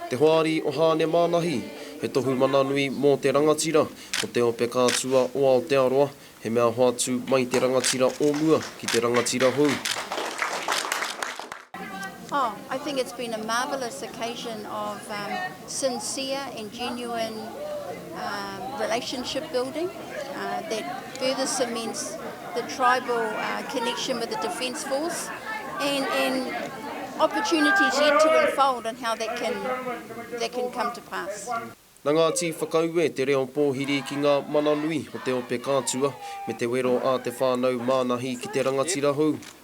Te Hoari o Hāne Mānahi, he tohu mana nui mō te rangatira o te ope kātua o Aotearoa, he mea hoatu mai te rangatira o mua ki te rangatira hou. Oh, I think it's been a marvellous occasion of sincere and genuine. relationship building that further cements the tribal connection with the Defence Force and opportunities yet to unfold and how that can come to pass. Na Ngāti Whakaue te reo pōhiri ki ngā mana nui o te ope kātua me te wero a te whānau mānahi ki te rangatira hou.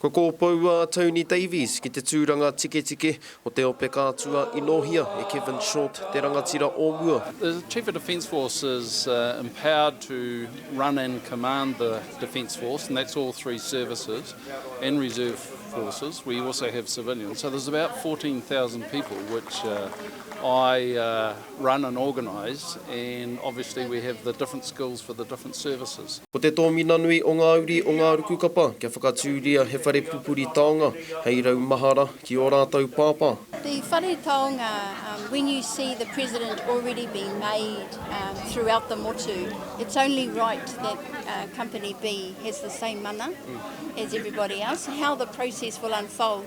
Kua kōpou a Tony Davies ki te tūranga tiketike o te ope kātua i nōhia e Kevin Short te rangatira o mua. The Chief of Defence Force is empowered to run and command the Defence Force and that's all three services and reserve forces, we also have civilians, so there's about 14,000 people which I run and organise and obviously we have the different skills for the different services. Ko te tōmina nui o ngā uri o ngā ruku kapa kia whakatūria he whare pupuri taonga hei rau mahara ki ō rātou pāpā. The whare taonga, um, when you see the president already being made um, throughout the motu, it's only right that uh, company B has the same mana as everybody else. How the process will unfold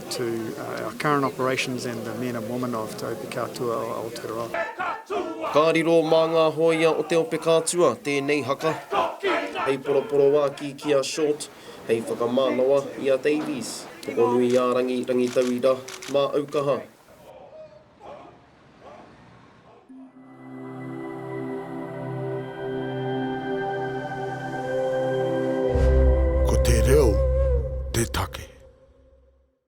To our current operations and the men and women of Te Ope Kātua o Aotearoa. Ka riro mā ngā hōia o Te Ope Kātua tēnei haka. Hei poroporoākī ki a Short, hei whakamānawa i a Davies. Tokonuiārangi, Rangitauira, Māaukaha. Ko te reo te take.